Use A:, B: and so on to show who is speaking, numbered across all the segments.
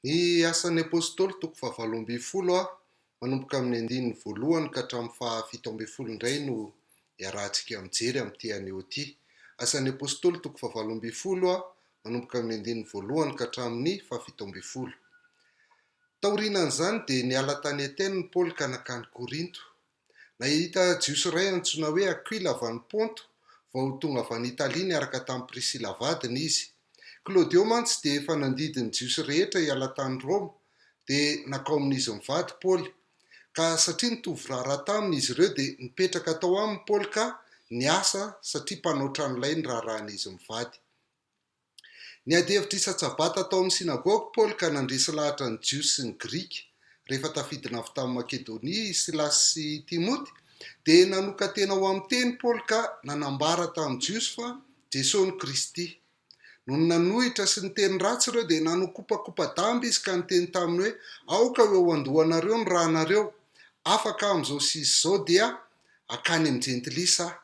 A: Ny Asan'ny Apôstôly, toko fahavalo ambin'ny folo a, manomboka amin'ny andininy voalohany ka hatramin'ny fahafito ambin'ny folo indray no iarahantsika mijery amin'ity anio ity. Asan'ny Apôstôly, toko fahavalo ambin'ny folo a, manomboka amin'ny andininy voalohany ka hatramin'ny fahafito ambin'ny folo. Taorianan'izany dia niala tany Atène i Paoly ka nankany Korinto. Nahita Jiosy iray antsoina hoe Akwila avy any Ponto, vao tonga avy any Italia niaraka tamin'i Prisila vadiny izy. Klaudio mantsy dia efa nandidy ny Jiosy rehetra hiala tany Roma, dia nakao amin'izy mivady Paoly. Ka satria nitovy raharaha taminy izy ireo, dia nipetraka tao aminy Paoly ka niasa, satria mpanao tranolay ny raharahan'izy mivady. Niady hevitra isan-tsabata tao amin'ny synagoga Paoly ka nandresy lahatra ny Jiosy sy ny Grika. Rehefa tafidina avy tany Makedonia i Silasy sy i Timoty, dia nanokan-tena ho amin'ny teny Paoly ka nanambara tamin'ny Jiosy fa Jesoa no Kristy. Nony nanohitra sy niteny ratsy ireo, dia nanokopakopa-damba izy ka niteny taminy hoe, Aoka ho eo an-dohanareo ny ranareo. Afaka amin'izao sy izao dia hankany amin'ny Jentilisa aho.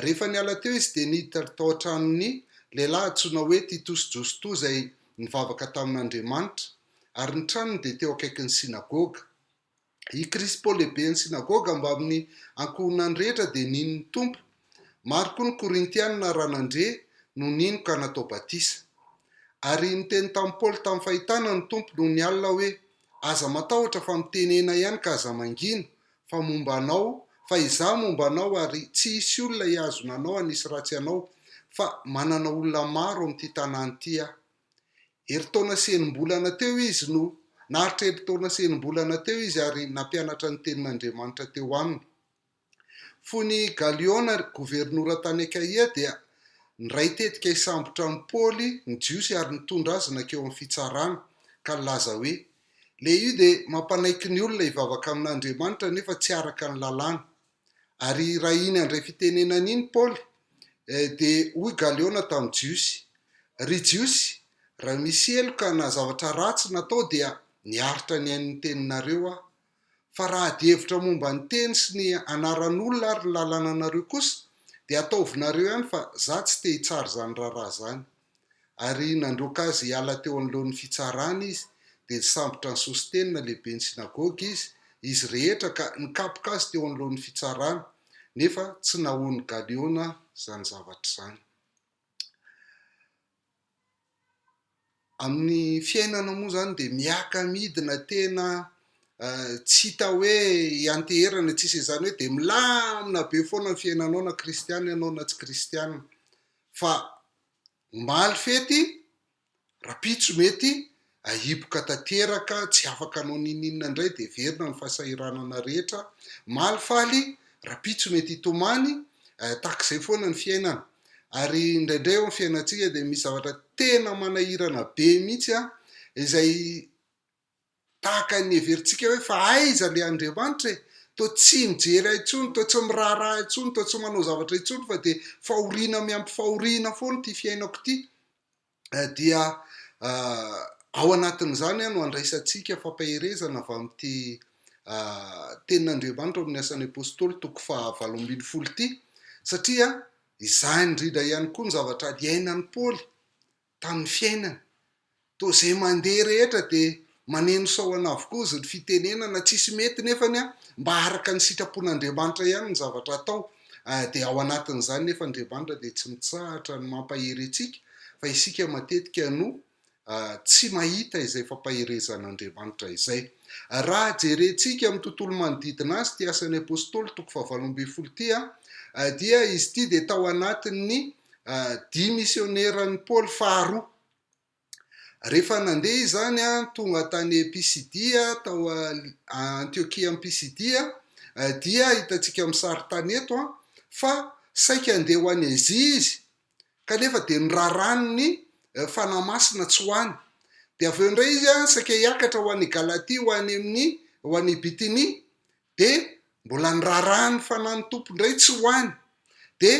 A: Rehefa niala teo izy dia niditra tao an-tranon'ny lehilahy antsoina hoe Titosy Jostoa izay nivavaka tamin'Andriamanitra, ary ny tranony dia teo akaikin'ny synagoga. I Krispo lehiben'ny synagoga mbamin'ny ankohonany rehetra dia nino ny Tompo. Maro koa ny Korintiana raha nandre no nino ka natao batisa. Ary niteny tamin'i Paoly tamin'ny fahitana ny Tompo nony alina hoe, Aza matahotra fa mitenena ihany ka aza mangina, fa momba anao, fa izaho momba anao ary tsy hisy olona hihazona anao hanisy ratsy anao, fa manana olona maro amin'ity tanàna ity aho. Herintaona sy enim-bolana teo izy no, naharitra erin-taona sy enim-bolana teo izy ary nampianatra ny tenin'Andriamanitra teo aminy. Fony i Galiôna governora tany Akaia dia niray tetika hisambotra an'i Paoly ny Jiosy ary nitondra azy nankeo amin'ny fitsarana, ka nilaza hoe, Le io dia mampanaiky ny olona hivavaka amin'Andriamanitra nefa tsy araka ny lalàna. Ary raha iny handray fitenenana iny Paoly dia hoy Galeona tamin'ny Jiosy, Ry Jiosy, raha misy heloka na zavatra ratsy natao dia niaritra ny ain'ny teninareo aho, Fa raha adihevitra momba ny teny sy ny anaran'olona ary ny lalananareo kosa dia ataovinareo ihany fa za tsy te hitsara izany raharaha zany. Ary nandroaka azy hiala teo anoloan'ny fitsarana izy dia nisambotra an'i Sosteny na lehiben'ny synagoga izy, izy rehetra ka nikapoka azy teo anoloan'ny fitsarana, nefa tsy nahoan'i Galiona izany zavatra izany. Amin'ny fiainana moa izany dia miaka-midina tena tsy hita hoe hianteherana tsy hisy izany hoe dia milamina be foana ny fiainanao na kristiana ianao na tsy kristiana, fa omaly fety, rahampitso mety. Ahiboka tanteraka, tsy afaka hanao ninoninona indray dia heverina ny fahasahiranana rehetra, maly faly, rapitso mety hitomany, tahaka izay foana ny fiainana. Ary indraindray eo amin'ny fiainantsika dia misy zavatra tena manahirana be mihitsy izay tahaka ny heverintsika hoe fa aiza ilay Andriamanitra e? Toa tsy mijery ahy intsony, toa tsy miraharaha ahy intsony, toa tsy manao zavatra intsony fa dia fahoriana miampy fahoriana foana ity fiainako ity. dia ao anatin'izany no andraisantsika fampaherezana avy amin'ity tenin'Andriamanitra ao amin'ny asan'ny Apôstôly toko faha valo ambin'ny folo ity, satria izany indrindra ihany koa ny zavatra iainan'i Paoly tamin'ny fiainany. Toa izay mandeha rehetra dia Maneno sahona avokoa izy ny fitenenana tsisy mety nefany a mba araka ny sitrapon'Andriamanitra ihany ny zavatra atao dia ao anatin'izany nefa Andriamanitra dia tsy mitsahatra ny mampahery antsika fa isika matetika no tsy mahita izay fampaherezan'Andriamanitra izay. Raha jerentsika amin'ny tontolo manodidina azy ity asan'ny apostoly toko fahavalo ambin'ny folo ity a dia izy ity dia tao anatin'ny dia misioneran'i Paoly faharoa. Rehefa nandeha izany tonga tany Pisidia, tao Antiokia amin'i Pisidia, dia hitantsika amin'ny sarintany eto fa saika handeha ho any Azia izy kanefa dia noraran'ny Fanahy Masina tsy ho any. Dia avy eo indray izy saika hiakatra ho any Galatia, ho any amin'ny, ho any Bitinia, dia mbola niraharaha ny fanan'ny Tompo indray tsy ho any, dia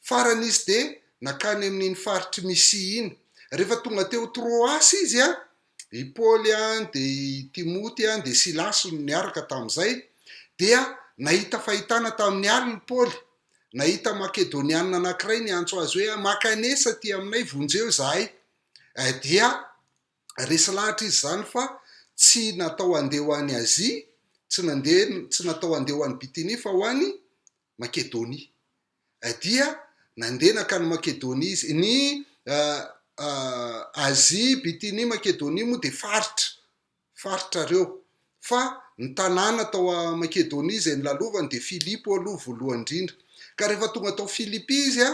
A: farany izy dia nankany amin'iny faritr'i Mysia iny. Rehefa tonga teo Troasy izy, i Paoly dia i Timoty dia Silasy no niaraka tamin'izay, dia nahita fahitana tamin'ny alina i Paoly, nahita Makedoniana anankiray niantso azy hoe, Maka an'esa aty aminay, vonjeo izahay. Dia. Resy lahatra izy izany fa tsy natao handeha ho any Azia, tsy nandeha, tsy natao handeha ho any Bitinia fa ho any Makedonia. Dia nandeha nankany Makedonia izy. Ny Azia, Bitinia, Makedonia moa dia faritra, faritrareo. Fa ny tanàna tao Makedonia izay nilalovany dia Filipo aloha voalohany indrindra. Ka rehefa tonga tao Filipy izy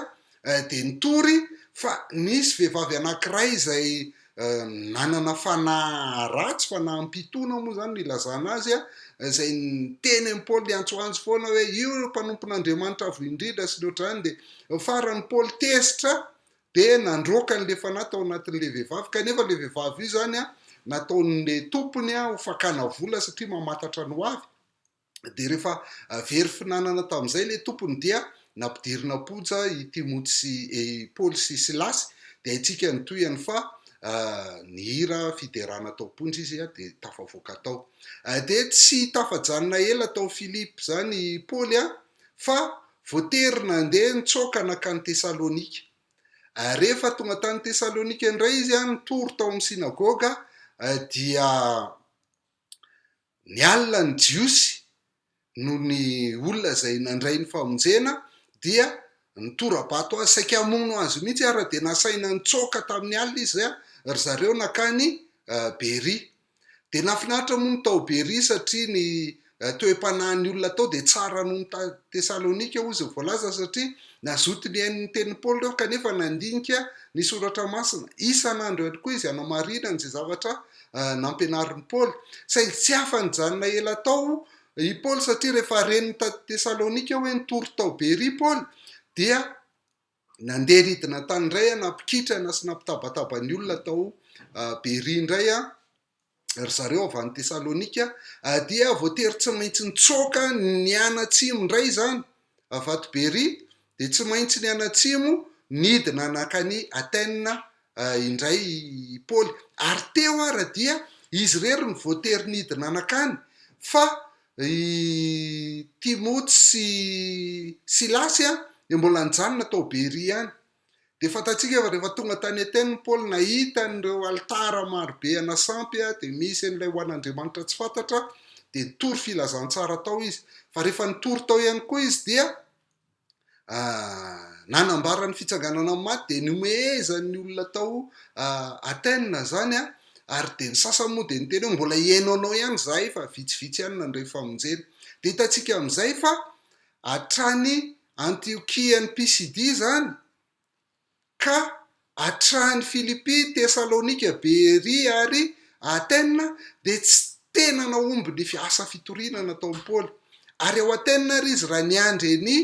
A: dia nitory fa nisy vehivavy anankiray izay nanana fanahy ratsy, fanahim-pitoana moa izany no ilazana azy, izay niteny an'i Paoly niantsoantso foana hoe io mpanompon'Andriamanitra Avo Indrindra sy ny ohatr'izany. Dia faran'i Paoly tezitra dia nandroaka an'ilay fanahy tao anatin'ilay vehivavy, kanefa ilay vehivavy io izany an, nataon'ilay tompony an, ho fakana vola satria mamantatra ny hoavy, dia rehefa very finanana tamin'izay ilay tompony dia nampidirina am-ponja i Timoty sy i Paoly sy Silasy, dia haintsika ny tohiny fa nihira fiderana tao am-ponja izy an, dia tafavoaka tao. Dia tsy tafajanona ela tao Filipo izany i Paoly an, fa voatery nandeha nitsoaka nankany Tesalônika. Ary rehefa tonga tany Tesalônika indray izy, nitory tao amin'ny sinagôga, dia niala ny Jiosy noho ny olona izay nandray ny famonjena, dia nitora-bato azy, saika hamono azy mihitsy ary dia nasaina nitsoaka tamin'ny alina izy, ry zareo nankany Beria. Dia nahafinaritra moa ny tao Beria satria ny toe-panahin'ny olona tao dia tsara noho ny tany Tesalonika, hoy izay voalaza, satria nazoto nihaino ny tenin'i Paoly ireo kanefa nandinika ny Soratra Masina. Isan'andro ihany koa izy hanamarinany izay zavatra nampianarin'i Paoly. Saingy tsy afa-nijanona ela tao i Paoly satria rehefa ren'ny tany Tesalonika hoe nitory tao Beria i Paoly dia Nandeha ridina tany indray aho, nampikitrana sy nampitabataba ny olona tao Beria indray ry zareo avy any Tesalonika, dia voatery tsy maintsy nitsoaka nianatsimo indray izany avy ato Beria, dia tsy maintsy nianatsimo nidina nankany Athènes indray i Paoly. Ary teo ara dia izy irery no voatery nidina nankany, fa i Timoty sy Silasy dia mbola nijanona tao Beria ihany. Dia fantatsika fa rehefa tonga tany Atène Paoly, nahita an'ireo alitara marobe ana sampy, dia misy an'ilay ho an'andriamanitra tsy fantatra, dia nitory filazantsara tao izy. Fa rehefa nitory tao ihany koa izy dia. nanambara ny fitsanganana amin'ny maty dia niomehezan'ny olona tao Athènes izany ary dia ny sasany moa dia niteny hoe mbola hihaino anao ihany izahay fa vitsivitsy ihany nandray famonjena. Dia hitantsika amin'izay fa hatrany Antiokia any Pisidia izany ka hatrany Filipy, Tesalonika, Beria ary Atena dia tsy tena nahomby ny asa fitoriana nataon'i Paoly. Ary ao Atena ary izy raha niandry an'i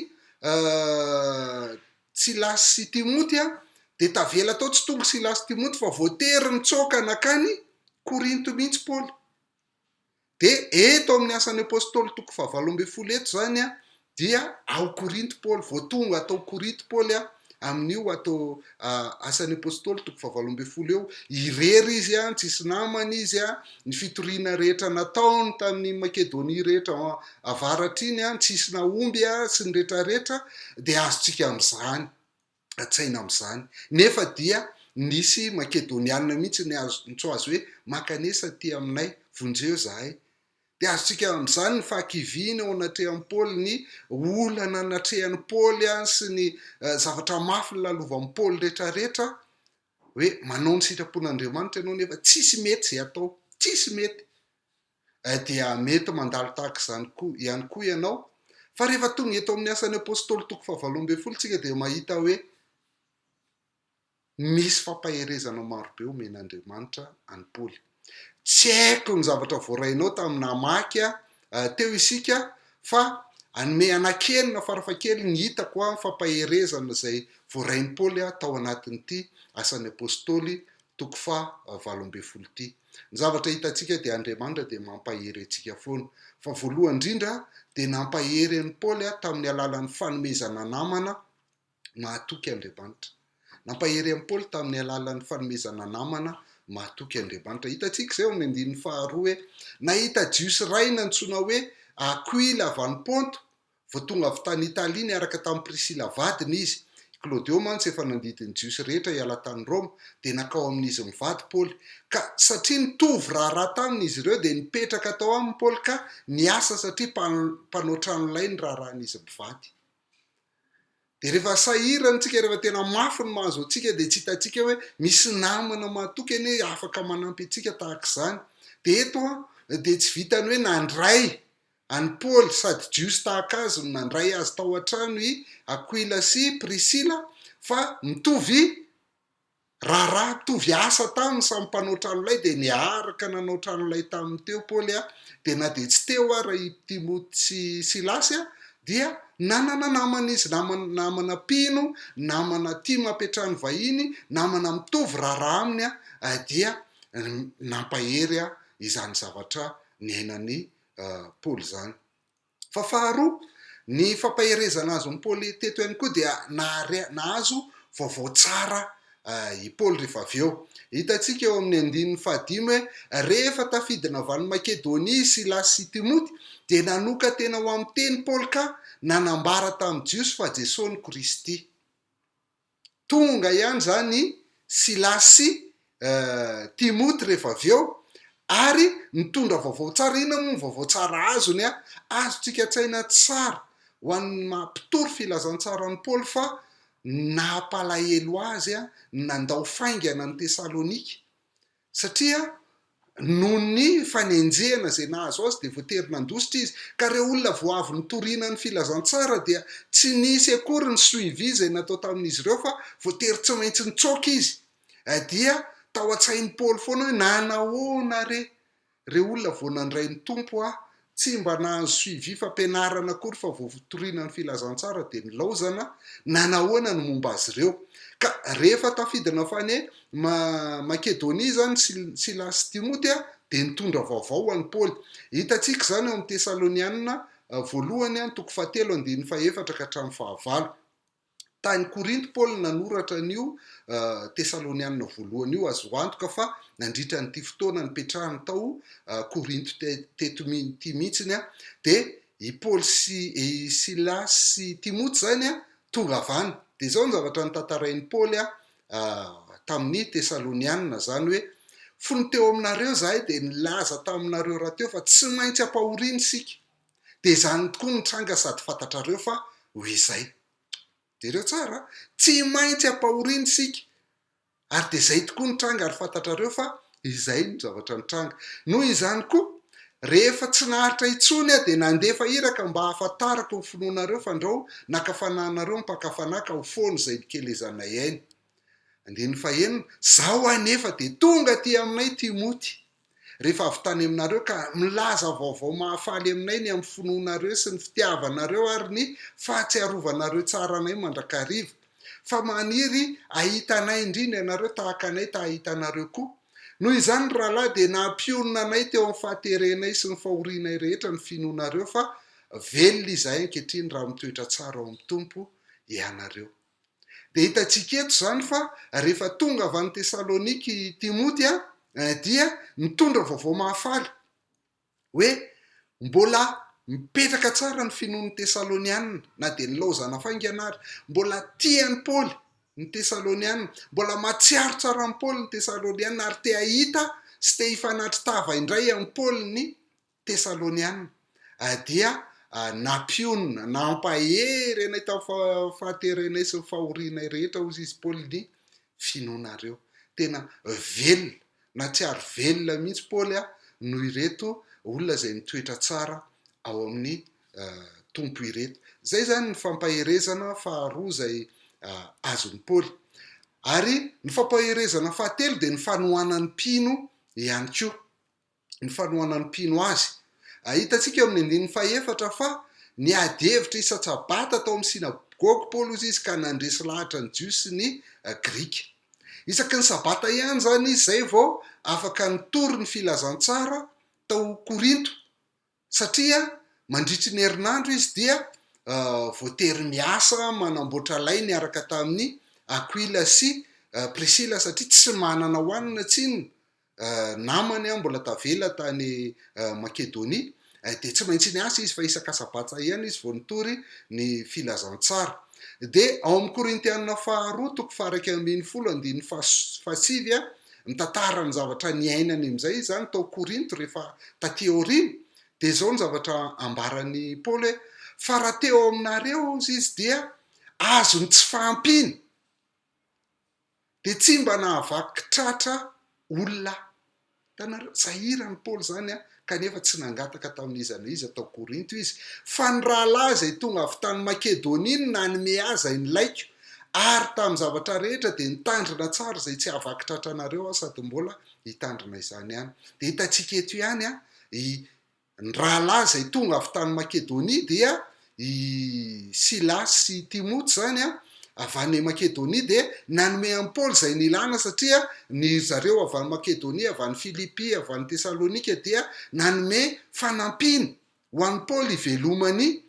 A: Silasy sy Timoty dia tavela tao, tsy tonga Silasy sy Timoty fa voatery nitsoaka nankany Korinto mihitsy Paoly. Dia eto amin'ny Asan'ny Apostoly toko fahavalo ambin'ny folo eto izany dia ao Korinto Paoly, vao tonga tao Korinto Paoly amin'io ato Asan'ny Apostoly toko fahavalo ambin'ny folo eo, irery izy, tsy hisy namany izy, ny fitoriana rehetra nataony tamin'ny Makedonia rehetra avaratra iny, tsy hisy nahomby sy ny rehetra rehetra dia azontsika amin'izany. an-tsaina amin'izany. Nefa dia nisy Makedonianina mihitsy niantso azy hoe, Mankanesa aty aminay, vonjeo izahay. Dia azontsika amin'izany ny fahakiviana eo anatrehan'i Paoly, ny olana natrehan'i Paoly sy ny zavatra mafy nolalovan'i Paoly rehetrarehetra, hoe manao ny sitrapon'Andriamanitra ianao nefa tsisy mety izay atao, tsisy mety. eh dia mety mandalo tahaka izany koa ihany koa ianao fa rehefa tonga eto amin'ny asan'ny apostoly toko fahavalo ambin'ny folo isika dia mahita hoe misy fampaherezana marobe omen'Andriamanitra an'i Paoly tsy haiko ny zavatra voarainao tamin'ny namaky eh, teo isika fa anome anak'enina farafakely ny hitako amin'ny fampaherezana izay voarain'i Paoly tao anatin'ity asan'ny apostoly Toko faha valo ambin'ny folo ity. Ny zavatra hitantsika dia Andriamanitra dia mampahery antsika foana. Fa voalohany indrindra dia nampahery an'i Paoly tamin'ny alalan'ny fanomezana namana mahatoky Andriamanitra. Nampahery an'i Paoly tamin'ny alalan'ny fanomezana namana mahatoky Andriamanitra. Hitantsika izay ao amin'ny andininy faharoa hoe, Nahita Jiosy iray nantsoina hoe Akoila avy any Ponto Vao tonga avy tany Italia niaraka tamin'i Prisila vadiny izy. I Klaodio mantsy efa nandidy ny Jiosy rehetra hiala tany Roma, dia nankao amin'izy mivady Paoly. Ka satria nitovy raharaha taminy izy ireo, dia nipetraka tao aminy Paoly ka niasa satria mpanao trano lay ny raharahan'izy mivady. Dia rehefa sahirana isika, rehefa tena mafy ny mahazo antsika, dia tsy hitantsika hoe misy namana mahatoky anie afaka manampy antsika tahaka izany. Dia eto dia tsy vitan'ny hoe nandray An'i Paoly, sady Jiosy tahaka azy no nandray azy tao an-trano i Akoila sy Prisila, fa mitovy raharaha, mitovy asa taminy, samy mpanao tranolay, dia niaraka nanao tranolay taminy teo Paoly, dia na dia tsy teo ara i Timoty sy Silasy, dia nanana namana izy, namana, namana mpino, namana tia mampiantrà ny vahiny, namana mitovy raharaha aminy, dia nampahery izany zavatra niainan'i Paoly izany. Fa faharoa, ny fampaherezana azon'i Paoly teto ihany koa dia nahazo vaovao tsara i Paoly rehefa avy eo. Hitantsika eo amin'ny andininy fahadimy hoe rehefa tafidina avy any Makedonia i Silasy sy Timoty dia nanokan-tena ho amin'ny teny Paoly ka nanambara tamin'ny Jiosy fa Jesosy no Kristy. Tonga ihany izany i Silasy sy Timoty rehefa avy eo, ary nitondra vaovao tsara. Inona moa ny vaovao tsara azony? Azontsika an-tsaina tsara ho an'ny maha mpitory filazantsara an'i Paoly fa nampalahelo azy ny nandao faingana an'i Tesalonika, Satria noho ny fanenjehana izay nahazo azy dia voatery nandositra izy. Ka ireo olona vao avy nitoriana ny filazantsara dia tsy nisy akory ny suivi izay natao tamin'izy ireo fa voatery tsy maintsy nitsoaka izy. Dia tao an-tsain'i Paoly foana hoe, Nanahoana re? Reo olona vao nandray ny Tompo a tsy mba nahazo suivi fampianarana akory fa vao votorina ny filazantsara dia nilaozana na nahoana ny momba azy ireo. Ka rehefa tafidina fane ma Makedonia izany Silas sy Timoty a dia nitondra vaovao ho an'i Paoly. Hitantsika izany ao amin'ny Tesalonianina voalohany a toko fahatelo andininy fahefatra ka hatramin'ny fahavalo. Tany Korinto Paoly no nanoratra an'io Tesalonianina voalohany io. Azo antoka fa nandritra an'ity fotoana nipetrahany tao Korinto teto ity mihitsy dia i Paoly sy i Silasy sy i Timoty izany tonga avy any. Dia izao ny zavatra notantarain'i Paoly tamin'ny Tesalonianina izany hoe, Fony teo aminareo izahay dia nilaza taminareo rahateo fa tsy maintsy ampahoriana isika. Dia izany tokoa no nitranga sady fantatrareo fa ho izay. Jereo tsara a! Tsy maintsy ampahoriana isika. Ary dia izay tokoa nitranga ary fantatrareo fa izay no zavatra nitranga. Noho izany koa, rehefa tsy naharitra intsony aho dia nandefa iraka mba hahafantarako ny finoanareo fandrao naka fanahinareo ny mpaka fanahy ka ho foana izay nikelezanay ainy. Andininy fahenina, Zao anefa dia tonga aty aminay Timoty. rehefa avy tany aminareo ka milaza vaovao mahafaly aminay ny amin'ny finoanareo sy ny fitiavanareo ary ny fahatsiarovanareo tsara anay mandrakariva, fa maniry hahita anay indrindra ianareo tahaka anay ta-hahita anareo koa. Noho izany, ry rahalahy, dia nampionona anay teo amin'ny fahaterenay sy ny fahorianay rehetra ny finoanareo, fa velona izahay ankehitriny raha mitoetra tsara ao amin'ny Tompo ianareo. Dia hitantsika eto izany fa rehefa tonga avy any Tesalonika i Timoty dia nitondra vaovao mahafaly hoe mbola mipetraka tsara ny finoan'ny Tesalonianina na dia nilaozana faingana ary. Mbola tia an'i Paoly ny Tesalonianina, mbola mahatsiaro tsara an'i Paoly ny Tesalonianina ary te hahita sy te hifanatri-tava indray amin'i Paoly ny Tesaloniana, dia nampionona, nampahery anay tamin'ny fahaterenay sy ny fahorianay rehetra, hozy izy, Paoly, ny finoanareo. Tena velona, nahatsiaro velona mihitsy Paoly noho ireto olona izay nitoetra tsara ao amin'ny Tompo ireto. Izay izany ny fampaherezana faharoa izay azon'i Paoly. Ary ny fampaherezana fahatelo dia ny fanohanan'ny mpino ihany koa. ny fanohanan'ny mpino azy. Ahitantsika eo amin'ny andininy fahefatra fa niady hevitra isan-tsabata tao amin'ny synagoga Paoly hozy izy ka nandresy lahatra ny Jiosy sy ny Grika. Isaky ny sabata ihany izany izy izay vao afaka nitory ny filazantsara tao Korinto Satria mandritry ny herinandro izy dia voatery miasa manamboatra lay niaraka tamin'i Akwila sy Prisila satria tsy manana hohanina tsinona namany mbola tavela tany Makedonia dia tsy maintsy niasa izy fa isaka sabata ihany izy vao nitory ny filazantsara dia ao amin'ny Korintiana faharoa toko faha iraika ambin'ny folo andininy fahasivy Mitantara ny zavatra niainany amin'izay izany tao Korinto rehefa tatỳ aoriana, dia izao ny zavatra ambaran'i Paoly hoe, Fa raha te ao aminareo izy dia azony tsy fahampiana, dia tsy mba nahavaky tratra olona aho. Hitanareo? Sahiran'i Paoly izany kanefa tsy nangataka tamin'iza na iza tao Korinto izy, fa ny rahalahy izay tonga avy tany Makedonia no nanome azy ahy nilaiko, ary tamin'ny zavatra rehetra dia nitandrina tsara izay tsy hahavaky tratra anareo aho sady mbola hitandrina izany ihany. Dia hitantsika eto ihany an, i, ny rahalahy izay tonga avy tany Makedonia dia I Silasy sy i Timoty izany avy any Makedonia dia nanome an'i Paoly izay nilana, satria ny ry zareo avy any Makedonia, avy any Filipy, avy any Tesalonika dia nanome fanampiana ho an'i Paoly hivelomany.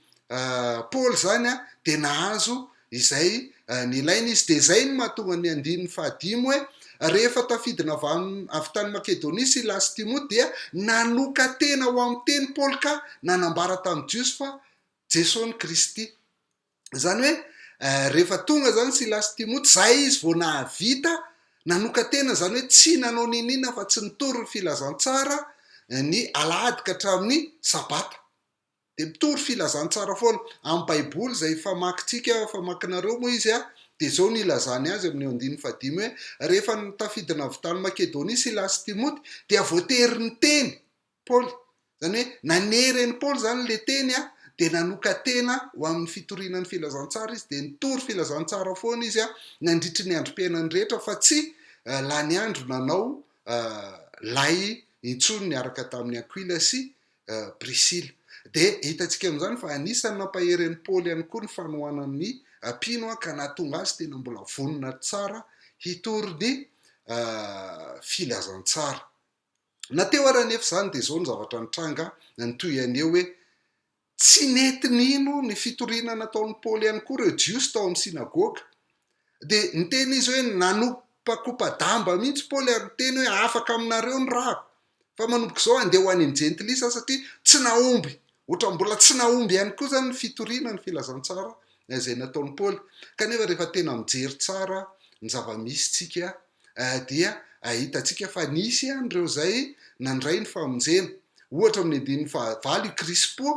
A: Paoly izany dia nahazo izay nilaina izy. Dia izay no mahatonga ny andininy fahadimy hoe, Rehefa tafidina avy any, avy tany Makedonia Silasy sy Timoty, dia nanoka-tena ho amin'ny teny Paoly ka nanambara tamin'ny Jiosy fa Jesoa no Kristy. Izany hoe, rehefa tonga izany Silasy sy Timoty, izay izy vao nahavita nanoka-tena, izany hoe tsy nanao n'inon'inona afa-tsy nitory ny filazantsara ny alahady ka hatramin'ny sabata. Dia mitory filazantsara foana. Amin'ny Baiboly izay famakintsika, famakinareo moa izy, dia izao no ilazany azy amin'io andininy fahadimy hoe, Rehefa tafiditra avy tany Makedonia Silasy sy Timoty, dia voatery niteny Paoly. Izany hoe nanery an'i Paoly izany ilay teny, dia nanokan-tena ho amin'ny fitoriana ny filazantsara izy, dia nitory filazantsara foana izy nandritry ny androm-piainany rehetra, fa tsy lany andro nanao lay intsony niaraka tamin'i Akoila sy Prisila. Dia hitantsika amin'izany fa anisan'ny nampahery an'i Paoly ihany koa ny fanohanany ny mpino ka nahatonga azy tena mbola vonona tsara hitory ny filazantsara. Na teo ary anefa izany dia izao ny zavatra nitranga, ny toy an'io hoe tsy nety nino ny fitoriana nataon'i Paoly ihany koa ireo Jiosy tao amin'ny synagoga. Dia niteny izy hoe, Nanopakopa-damba mihitsy Paoly ary niteny hoe, Afaka aminareo ny rako. Fa manomboka izao handeha ho any amin'ny jentilisa satria tsy nahomby, ohatran'ny mbola tsy nahomby ihany koa izany ny fitoriana ny filazantsara izay nataon'i Paoly. Kanefa rehefa tena mijery tsara ny zava-misy isika dia ahitantsika fa nisy an'ireo izay nandray ny famonjena. Ohatra, amin'ny andininy fahavalo, i Krispo,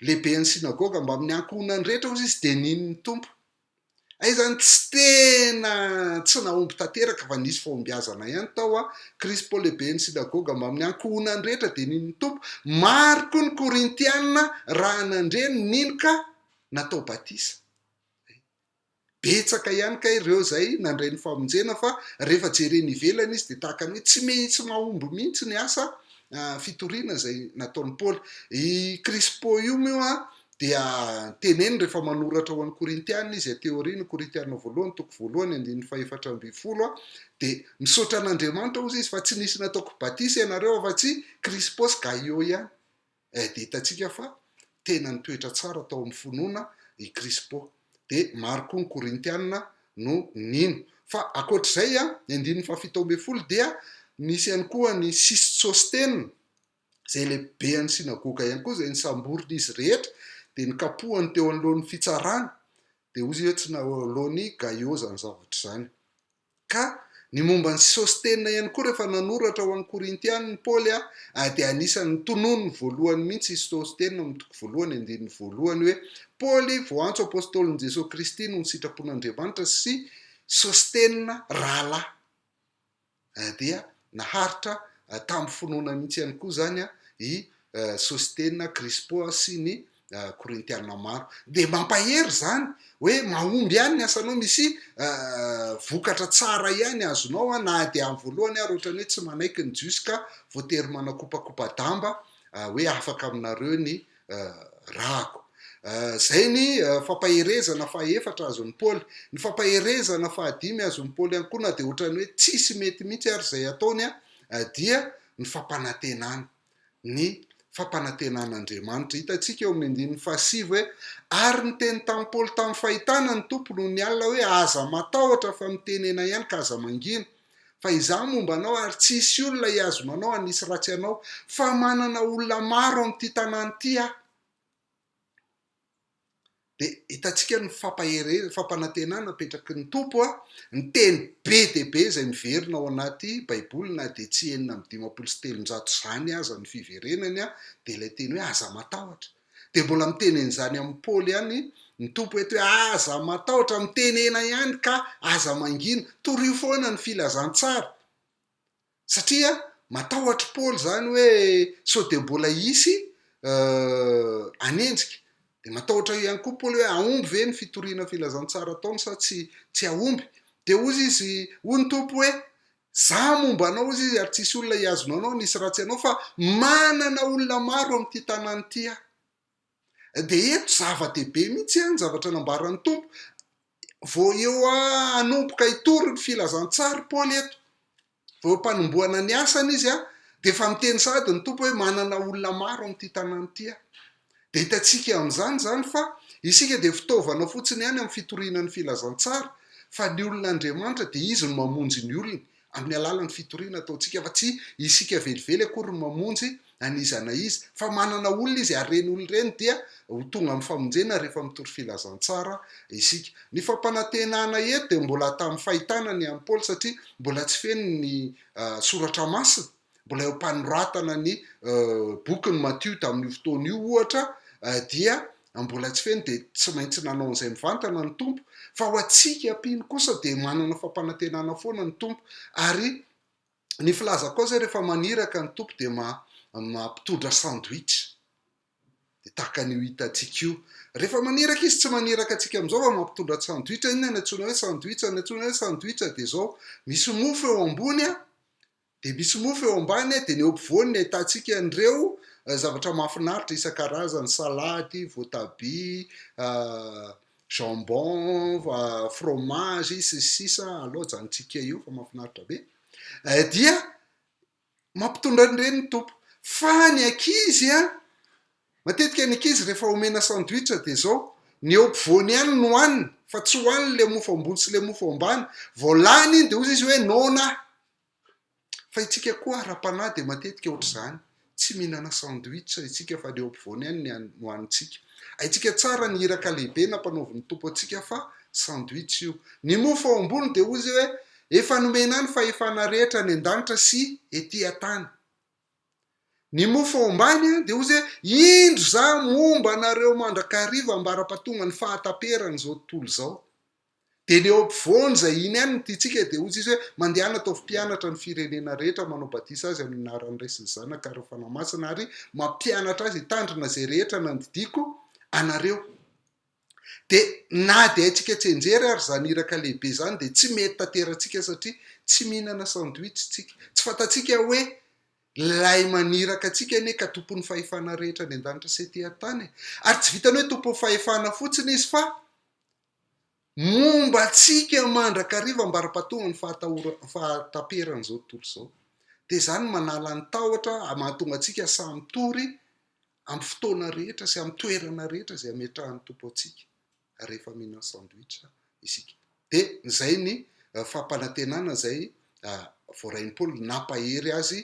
A: lehiben'ny sinagoga mbamin'ny ankohonany rehetra hozy izy dia nino ny Tompo. Hay izany tsy tena tsy nahomby tanteraka fa nisy fahombiazana ihany tao an, Krispo lehibe ny synagoga mbamin'ny ankohonany rehetra dia nino ny Tompo, maro koa ny Korintiana raha nandre ny nino ka natao batisa. Betsaka ihany kay ireo izay nandray ny famonjena fa rehefa jerena ivelany izy dia tahaka ny hoe tsy mitsy mahomby mihitsy ny asa fitoriana izay nataon'i Paoly. I Krispo io moa Dia teneno rehefa manoratra ho an'ny Korintiana izy aty aoriana, Korintiana voalohany, toko voalohany, andininy fahefatra ambin'ny folo a, dia, Misaotra an'Andriamanitra, hozy izy, fa tsy nisy nataoko batisa ianareo afa-tsy Krispô sy Gaiô ihany. Eh, dia hitantsika fa tena nitoetra tsara tao amin'ny finoana i Krispô. Dia maro koa ny Korintiana no nino. Fa ankoatr'izay a, ny andininy fahafito ambin'ny folo dia nisy ihany koa ny sisto Sôstena, izay lehiben'ny synagoga ihany koa, izay nisamborin'izy rehetra, dia nikapohany teo anoloan'ny fitsarana, dia hoy izy hoe tsy nahaloan'i Gaio izany zavatra izany. Ka ny momba an'i Sostena ihany koa, rehefa nanoratra ho an'ny Korintianina i Paoly, dia anisan'ny tononiny voalohany mihitsy i Sostena, ao amin'ny toko voalohany andininy voalohany, hoe Paoly, voantso apostolin'i Jesoa Kristy noho ny sitrapon'Andriamanitra, sy Sostena, rahalahy. dia naharitra tamin'ny finoana mihitsy ihany koa izany i Sostena, Krispo sy ny Korintiana maro. Dia mampahery izany hoe mahomby ihany ny asanao, misy vokatra tsara ihany azonao na dia amin'ny voalohany ary ohatran'ny hoe tsy manaiky ny Jiosy ka voatery manakopakopa-damba hoe afaka aminareo ny rako. Izay ny fampaherezana fahefatra azon'i Paoly. Ny fampaherezana fahadimy azon'i Paoly ihany koa, na dia ohatran'ny hoe tsisy mety mihitsy ary izay ataony, dia ny fampanantenana, ny fampanantenan'Andriamanitra. Hitantsika eo amin'ny andininy fahasivy hoe, Ary niteny tamin'i Paoly tamin'ny fahitana ny Tompo nony alina hoe, Aza matahotra, fa mitenena ihany ka aza mangina. Fa izaho momba anao ary tsy hisy olona hiazona anao hanisy ratsy anao, fa manana olona maro amin'ity tanàna ity aho. Dia hitantsika ny fampahereza, fampanantenana apetraky ny Tompo, ny teny be dia be izay miverina ao anaty Baiboly na dia tsy enina amby dimampolo sy telonjato izany aza ny fiverenany dia ilay teny hoe aza matahotra. Dia mbola miteny an'izany amin'i Paoly ihany ny Tompo eto hoe, Aza matahotra, mitenena ihany ka aza mangina. Torio foana ny filazantsara. Satria matahotr'i Paoly izany hoe sao dia mbola hisy hanenjika. Dia matahotra ihany koa Paoly hoe hahomby ve ny fitoriana filazantsara ataony sa tsy, tsy hahomby. Dia hoy izy, hoy ny Tompo hoe, Mizaha momba anao izy izy ary tsisy olona hihazona anao hanisy ratsy anao fa manana olona maro amin'ity tanàna ity aho. Dia eto zava-dehibe mihitsy an ny zavatra nambaran'ny Tompo vao eo hanomboka hitory ny filazantsary Paoly eto. Vao eo am-panombohana ny asany izy an dia efa miteny sahady ny Tompo hoe manana olona maro amin'ity tanàna ity aho. Dia hitantsika amin'izany izany fa isika dia fitaovana fotsiny ihany amin'ny fitoriana ny filazantsara, fa ny olona Andriamanitra dia Izy no mamonjy ny olony amin'ny alalan'ny fitoriana ataontsika, fa tsy isika velively akory no mamonjy an'iza na iza, fa manana olona Izy ary ireny olona ireny dia ho tonga amin'ny famonjena rehefa mitory filazantsara isika. Ny fampanantenana eto dia mbola tamin'ny fahitana ny an'i Paoly satria mbola tsy feno ny Soratra Masina. Mbola eo am-panoratana ny bokin'i Matio tamin'io fotoana io, ohatra, dia mbola tsy feno, dia tsy maintsy nanao an'izay mivantana ny Tompo, fa ho antsika mpino kosa dia manana fampanantenana foana ny Tompo, ary ny filazako koa izay rehefa maniraka ny Tompo dia mampitondra sandwich, dia tahaka an'io hitantsika io, rehefa maniraka Izy tsy maniraka antsika amin'izao fa mampitondra sandwich, inona no antsoina hoe sandwich? Ny antsoina hoe sandwich dia izao, misy mofo eo ambony an, Dia misy mofo eo ambany dia ny eo ampovoany ny ahitantsika an'ireo zavatra mahafinaritra isan-karazany, salady, voatabia, jambon, fromage, sy ny sisa, aleo ajanontsika eo fa mahafinaritra be, dia mampitondra an'ireny ny Tompo. Fa ny ankizy an! Matetika ny ankizy rehefa omena sandwich dia izao, ny eo ampovoany ihany no haniny fa tsy hohaniny ilay mofo ambony sy ilay mofo ambany, vao lany iny dia hoy izy hoe noana aho. Fa itsika koa ara-panahy dia matetika ohatr'izany, tsy mihinana sandwich itsika fa ny eo ampovoany ihany ny no hanintsika. Haintsika tsara ny iraka lehibe nampanaovin'ny Tompo antsika fa sandwich io. Ny mofo ao ambony dia hoy izy hoe efa nomena any fahefana rehetra any an-danitra sy ety an-tany. Ny mofo ao ambany dia hozy hoe, Indro za momba anareo mandrakariva ambara-pahatonga ny fahataperan' izao tontolo izao. Dia ny eo ampovoany izay iny ihany ny tiantsika dia hozy izy hoe, Mandehana ataovy mpianatra ny firenena rehetra, manao batisa azy amin' ny anaran' ny Ray sy ny Zanaka ary ny Fanahy Masina ary mampianatra azy hitandrina izay rehetra nandidiako anareo. Dia na dia haintsika tsenjery ary izany iraka lehibe izany dia tsy mety tanterantsika satria tsy mihinana sandwich isika. Tsy fantatsika hoe Ilay maniraka antsika anie ka Tompon'ny fahefana rehetra any an-danitra sy ety an-tany e! Ary tsy vitan'ny hoe Tompon'ny fahefana fotsiny Izy fa momba antsika mandrakariva ambara-pahatongan'ny fahatahoran- fahataperan'izao tontolo izao. Dia izany no manala ny tahotra, mahatonga antsika samy tory amin'ny fotoana rehetra sy amin'ny toerana rehetra izay ametrahan'ny Tompo antsika rehefa mihinan sandwich isika. Dia izay ny fampanantenana izay voarain'i Paoly nampahery azy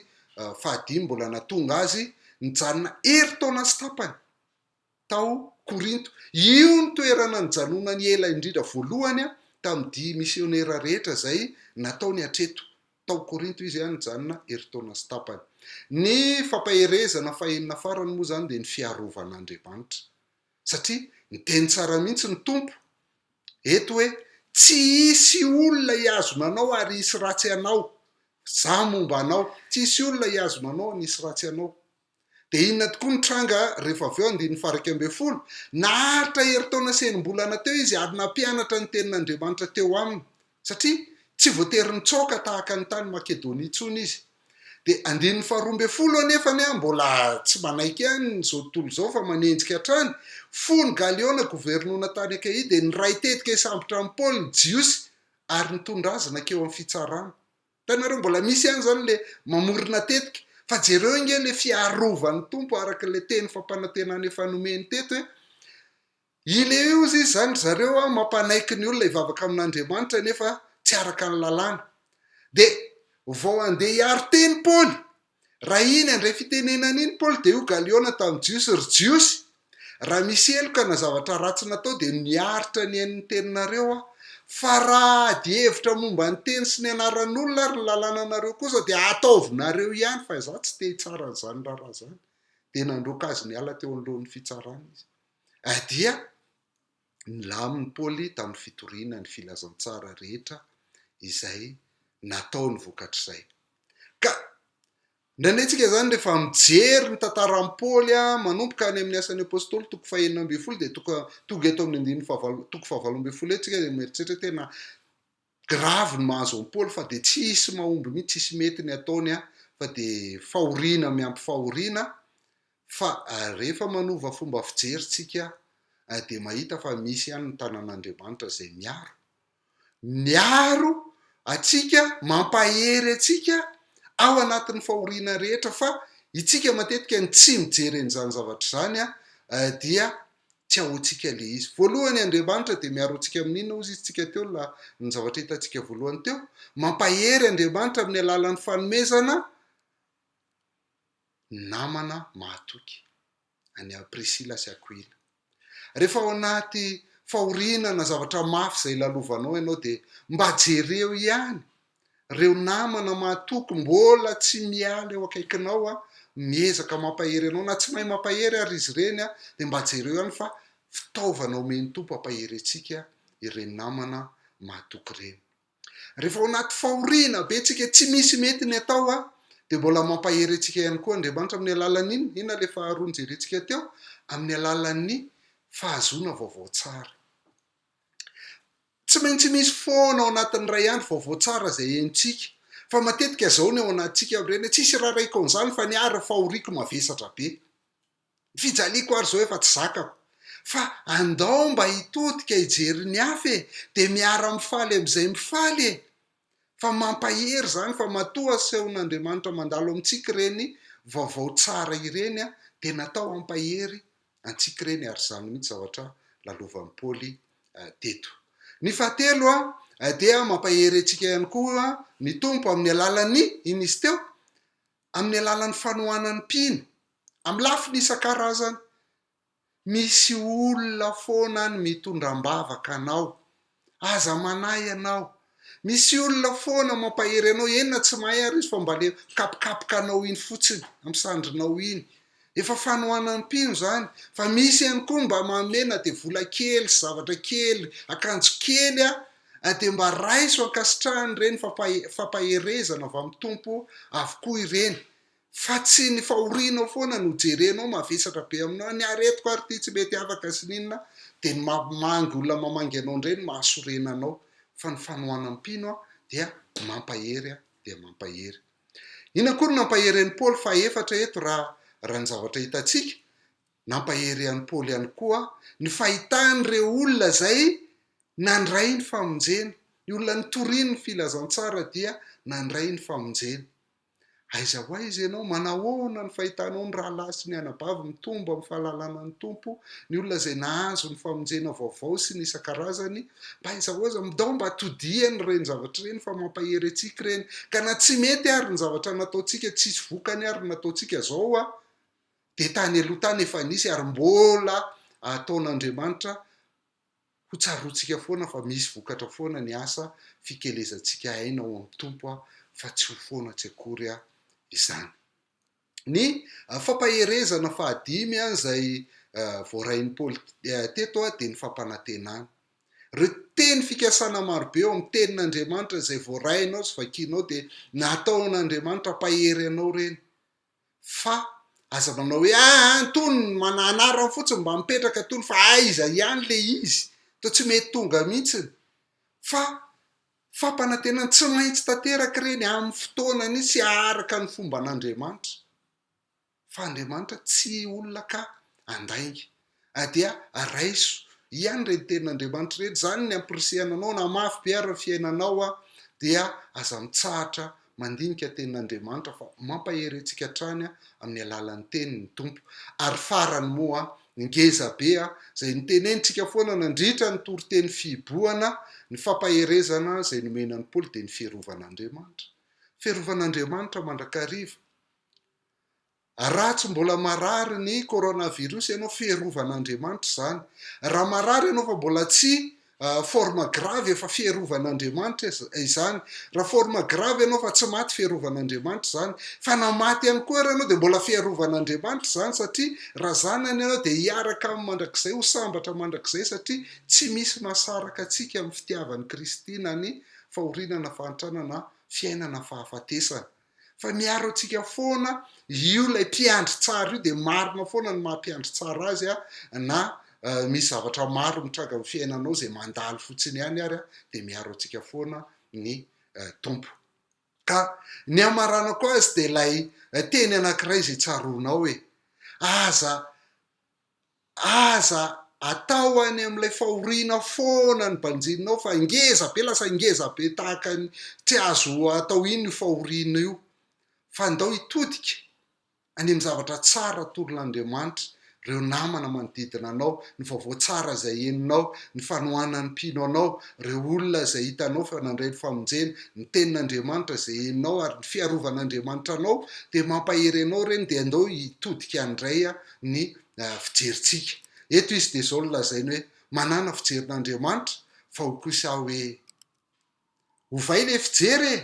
A: fahadimy mbola nahatonga azy nijanona herintaona sy tapany tao Korinto. Io no toerana nijanonany ela indrindra voalohany tamin'ny dia misionera rehetra izay nataony hatreto Tao Korinto izy dia nijanona herintaona sy tapany. Ny fampaherezana fahenina farany moa izany dia ny fiarovan'Andriamanitra. Satria niteny tsara mihitsy ny Tompo eto hoe, Tsy hisy olona hihazona anao ary hisy ratsy anao. Izaho momba anao. Tsy hisy olona hihazona anao ary hisy ratsy anao. Dia inona tokoa ny tranga rehefa avy eo andininy faha-iraika ambin'ny folo? Naharitra herintaona sy enim-bolana teo izy ary nampianatra ny Tenin'Andriamanitra teo aminy, satria tsy voatery nitsoaka tahaka ny tany Makedonia intsony izy. Dia andininy faharoa ambin'ny folo anefa ny ahy mbola tsy manaiky an' izao tontolo izao fa manenjika hatrany, fony Galiona governona tany Akaia dia niray tetika hisambotra an'i Paoly ny Jiosy ary nitondra azy nankeo amin'ny fitsarana. Hitanareo mbola misy ihany izany le mamorona tetika fa jereo nge le fiarovan'ny Tompo araka le teny fampanantenana efa nomeny teto e! Ileozy izy zany ry zareo a mampanaiky ny olona hivavaka amin'Andriamanitra nefa tsy araka ny lalàna. De vao andeha hiaro teny Paoly Raha iny handray fitenenana iny Paoly dia hoy Galiona tamin'ny Jiosy, Ry Jiosy, raha misy heloka na zavatra ratsy natao dia miaritra ny ain'ny teninareo aho, fa raha adihevitra momba ny teny sy ny anaran'olona ary ny lalànanareo kosa dia ataovinareo ihany, fa izaho tsy te hitsara an'izany raharaha izany. Dia nandroaka azy niala teo anoloan'ny fitsarana izy. Adia! Nilamin'i Paoly tamin'ny fitoriana ny filazantsara rehetra izay nataony vokatr'izay. Ka nanenjika izany rehefa mijery ny tantaran'i Paoly manomboka any amin'ny Asan'ny Apostoly toko fahenina ambin'ny folo dia tonga eto amin'ny andininy fahavalo toko fahavalo ambin'ny folo etsika dia mieritreritra tena Grave ny mahazo an'i Paoly fa dia tsy hisy mahomby mihitsy, tsy hisy mety ny ataony an, fa dia fahoriana miampy fahoriana, fa rehefa manova fomba fijery tsika dia mahita fa misy ihany ny tanan'Andriamanitra izay miaro, miaro antsika, mampahery antsika ao anatin'ny fahoriana rehetra, fa itsika matetika ny tsy mijery an'izany zavatra izany dia tsy ahoantsika ilay izy. Voalohany, Andriamanitra dia miaro antsika amin'ny inona hozy izy tsika teo la, ny zavatra hitantsika voalohany teo? Mampahery Andriamanitra amin'ny alalan'ny fanomezana namana mahatoky any Priscilla sy Aquila. Rehefa ao anaty fahoriana na zavatra mafy izay lalovanao ianao dia mba jereo ihany Ireo namana mahatoky mbola tsy miala eo akaikinao an, miezaka mampahery anao na tsy mahay mampahery ary izy ireny an, dia mba jereo ihany fa fitaovana omen'ny Tompo hampaherentsika ireny namana mahatoky ireny. Rehefa ao anaty fahoriana be tsika tsy misy mety ny atao an, dia mbola mampahery antsika ihany koa Andriamanitra amin'ny alalan'ny inona? Inona ilay faharoa nojerentsika teo? Amin'ny alalan'ny fahazoana vaovao tsara. Tsy maintsy misy foana ao anatin'ny iray andro vaovao tsara izay henontsika. Fa matetika izao ny ao anatintsika amin'ireny hoe, Tsy hisy irarahiako an'izany fa ny ahy ry fahoriako mavesatra be. Ny fijaliako ary izao efa tsy zakako. Fa andao mba hitodika hijery ny hafa e! Dia miara-mifaly amin'izay mifaly e! Fa mampahery izany fa matoa asehon'Andriamanitra mandalo amintsika ireny vaovao tsara ireny dia natao hampahery antsika ireny ary izany mihitsy zavatra lalovan'i Paoly teto. Ny fahatelo dia mampahery antsika ihany koa ny Tompo amin'ny alalan'ny inona izy teo? Amin'ny alalan'ny fanohanan'ny mpino amin'ny lafiny isan-karazany. Misy olona foana any mitondra ambavaka anao. Aza manahy ianao. Misy olona foana mampahery anao, eny na tsy mahay ary izy fa mba le mikapokapoka anao iny fotsiny, amin'ny sandrinao iny. Efa fanohanam-pino izany. Fa misy ihany koa mba manome na dia vola kely sy zavatra kely, akanjo kely an, dia mba raiso ankasitrahany ireny, fampaherezana avy amin'ny Tompo avokoa ireny. Fa tsy ny fahorianao foana no jerenao mavesatra be aminao, ny aretiko ary ity tsy mety afaka sy n'inona dia ny mamangy olona mamangy anao indray no mahasorena anao fa ny fanohanam-pino aho dia mampahery aho dia mampahery. Inona koa no nampahery an'i Paoly fahefatra eto raha raha ny zavatra hitantsika? Nampahery an'i Paoly ihany koa ny fahitany ireo olona izay nandray ny famonjena, ny olona nitoriany ny filazantsara dia nandray ny famonjena. Aiza ho aiza ianao? Manahoana ny fahitanao ny rahalahy sy ny anabavy mitombo amin'ny fahalalana ny Tompo, ny olona izay nahazo ny famonjena vaovao sy ny isan-karazany? Mba aizahôza, midao mba todiany ireny zavatra ireny fa mampahery antsika ireny. Ka na tsy mety ary ny zavatra nataontsika, tsisy vokany ary ny nataontsika izao a! dia tany aloha tany efa nisy ary mbola ataon'Andriamanitra Ho tsaroantsika foana fa misy vokatra foana ny asa fikelezantsika aina ao amin'ny Tompo fa tsy ho foana tsy akory izany. Ny fampaherezana fahadimy izay voarain'i Paoly teto dia ny fampanantenana. Ireo teny fikasana marobe ao amin'ny Tenin'Andriamanitra izay voarainao sy vakianao dia nataon'Andriamanitra hampahery anao ireny. fa aza manao hoe ah an tony ny mana anarany fotsiny mba mipetraka tony fa aiza ihany le izy to tsy mety tonga mihitsiny fa fampanantenana tsy maintsy tanteraka ireny amin'ny fotoanany sy aharaka ny fomban'Andriamanitra fa Andriamanitra tsy olona ka andainga a dia araiso hiany ireny tenin' Andriamanitra ireny, izany ny ampirisihana anao na mafy be ary ny fiainanao a dia aza mitsahatra mandinika tenin' Andriamanitra fa mampahery antsika hatrany a amin'ny alalan'ny teniny ny Tompo, ary farany moa ny ngeza be a izay notenenintsika foana nandritra ny toriteny fihibohana ny fampaherezana izay nomena an'i Paoly dia ny fiarovan' Andriamanitra, fiarovan' Andriamanitra mandrakariva. A Raha tsy mbola marary ny coronavirus ianao, fierovan'Andriamanitra izany. Raha marary ianao fa mbola tsy forme grave, efa fierovan'Andriamanitra izany. Raha forme grave ianao fa tsy maty, fierovan'Andriamanitra izany. Fa na maty ihany koa ary ianao dia mbola fierovan'Andriamanitra izany, satria raha zanany ianao dia hiaraka aminy mandrakizay, ho sambatra mandrakizay, satria tsy misy mahasaraka antsika amin'ny fitiavan'i Kristy na ny fahoriana na fahantrana na fiainana na fahafatesana. fa miaro antsika foana io ilay mpiandry tsara io dia marina foana ny maha mpiandry tsara azy a na misy zavatra maro mitranga amin'ny fiainanao izay mandalo fotsiny ihany ary a dia miaro antsika foana ny tompo ka ny amaranako azy dia ilay teny anankiray izay tsaroanao e aza Aza atao any amin'ilay fahoriana foana ny banjininao fa ngeza be lasa ngeza be tahaka ny tsy azo atao iny io fahoriana io fa ndao hitodika any amin'ny zavatra tsara torin'Andriamanitra ireo namana manodidina anao, ny vaovao tsara izay henonao, ny fanohanan'ny mpino anao, ireo olona izay hitanao fa nandray ny famonjena, ny tenin'Andriamanitra izay henonao ary ny fiarovan'Andriamanitra anao dia mampahery anao ireny dia ndao hitodika ndray ny fijerintsika. Eto izy dia izao no lazainy hoe, manàna fijerin'Andriamanitra fa ho kosa aho hoe, ovay ilay fijery e!